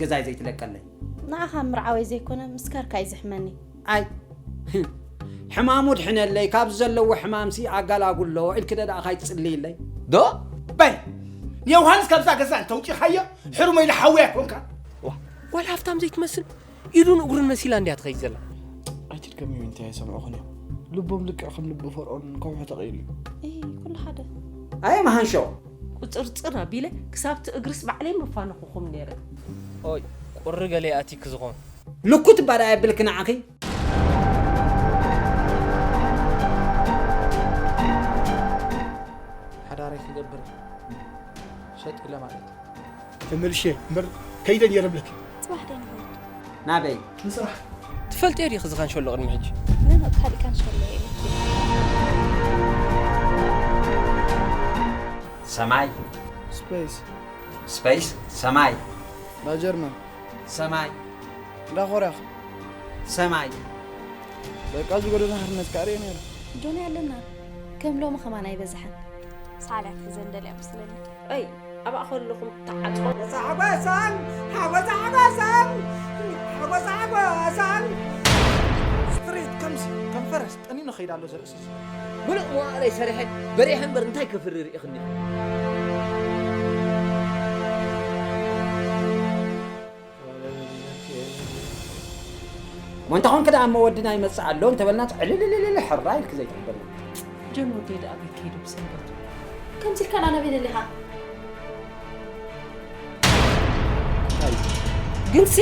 ገዛይ ዘይትለቀለይ። ንዓኻ ምርዓወይ ዘይኮነ ምስካርካ እዩ ዘሕመኒ። ኣይ ሕማሙ ድሕነለይ ካብዚ ዘለዎ ሕማምሲ ኣጋላጉሎ ኢልኪ ዶ ደኣ ካይትጽልይለይ። ዶ በል ንዮውሃንስ ካብዛ ገዛ እንተውጺኻዮ ሕሩመይ ልሓውያ ኮንካ። ዋላ ሃፍታም ዘይትመስል ኢዱን እግሩን መሲላ እንድያ ትኸይድ ዘላ ኣይትድከሚ ዊንቲ ኣይሰምዑኽን እዮም ልቦም ልክዕ ከም ልቢ ፈርኦን ከውሒ ተቐይሉ እዩ ኩሉ ሓደ ኣየ መሃንሾ ቁፅርፅር ኣቢለ ክሳብቲ እግርስ ባዕለይ መፋንኹኹም ነይረ ኦይ ቁሪ ገለ ኣቲክ ዝኾን ልኩት እባ ደኣ የብልኪ ንዓኺ ሓዳረይ ክገብር ሸጥ ኢለ ማለት እዩ ተመልሼ እምበር ከይደ ነይረ እብለኪ። ፅባሕ ዶ ንኸይድ? ናበይ? ንስራሕ። ትፈልጥዮ ዲኺ እዚ ካንሸሎ ቅድሚ ሕጂ? ኖኖ ካሊእ ካንሸሎ እየ ኢለኪ። ሰማይ። ስፐይስ። ስፐይስ ሰማይ። እንዳ ጀርመን። ሰማይ። እንዳ ኮርያ ከ? ሰማይ። በቃ እዚ ጎደና ሓርነት ከኣ ርእየ ነይረ። ዶንያ ኣለና ከም ሎሚ ከማን ኣይበዝሐን። ሳዕል እያ ክትሕዘን ደልያ መስለኒ። ኣይ ኣብኣ ከለኹም ተዓጽፎ። ሓጎሳን ሓጎሳ ሓጎሳን ሓጎሳ ሓጎሳን ፍሬት ከምዚ ከም ፈረስ ጠኒኑ ከይድ ኣሎ ዘርእሲ እዚ ምሉእ መዋእለይ ሰሪሐ በሪሐ እምበር እንታይ ከፍሪ ርኢኽኒ ወንታ ኮንክ ደኣ እሞ ወድና ይመጽእ ኣሎ እንተበልናስ ዕልልልልል ሕራይ ኢልኪ ዘይትሕብርና። ጆን ወደይ ደኣ ኣበይ ከይዱ ብሰንበቱ? ከምዚ ኢልካ ንኣና በይለለ ኢኻ። ግንሲ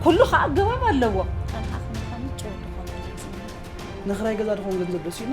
ኩሉ ከኣ ኣገባብ ኣለዎ። ንክራይ ገዛ ድኾን ገንዘብ ደሲኡና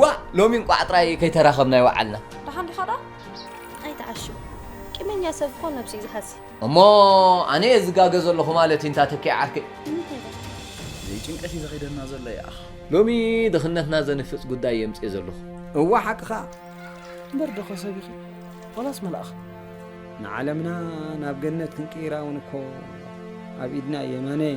ዋእ ሎሚ እንቋዕ ጥራይ ከይተራኸብና ይወዓልና። ደሓን ዲኻ ደኣ? ኣይትዓሽው ቂመኛ ሰብ እኮ ነብሱ እዩ ዝሓሲ። እሞ ኣነ እየ ዝጋገ ዘለኹ ማለት እዩ እንታ ተኪኤ ዓርከይ። ንምንታይ ደኣ? ዘይጭንቀት እዩ ዘኺደና ዘሎ ይኣኽ። ሎሚ ድኽነትና ዘንፍጽ ጉዳይ እየ ኣምጺኤ ዘለኹ። እወ ሓቅኻ እምበር ዶኸ ሰብ ኢኺ ዋላስ መልኣኽ? ንዓለምና ናብ ገነት ክንቅይራ እውን እኮ ኣብ ኢድና እዩ የማነይ።